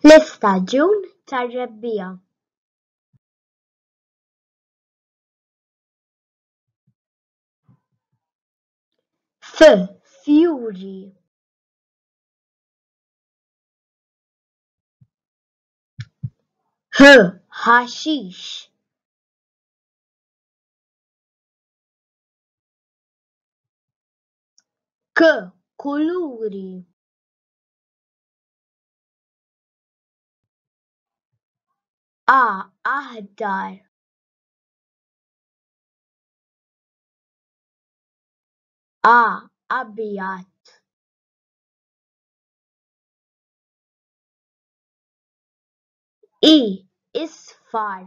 L-istaġun tar-rebbiegħa. F, fjuri. H, ħaxix. K. Kuluri A. Aħdar A. Abjad I. Isfar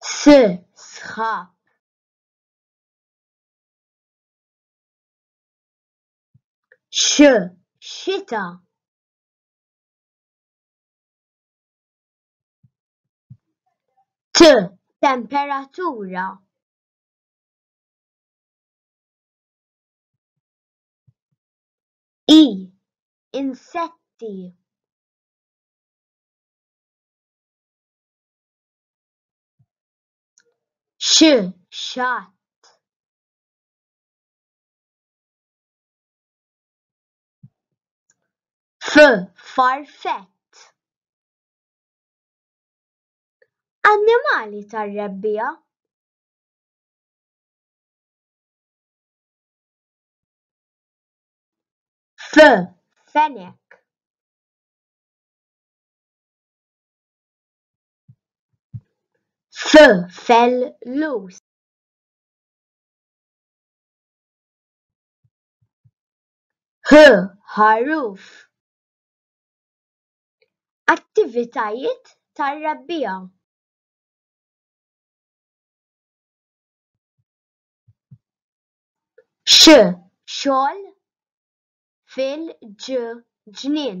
S, sħab. X, xita. T, temperatura. I, insetti. Xi xatt. F farfett. Annimali tar-rebbiegħa. F fenek. F fell lus. H ħaruf. Attivitajiet tar-rebbija. X xogħol fil-ġnien.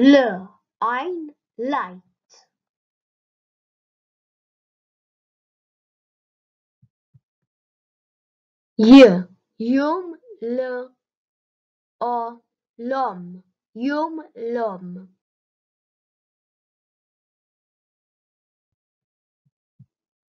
L għajn light. J jum l o lom jum lom.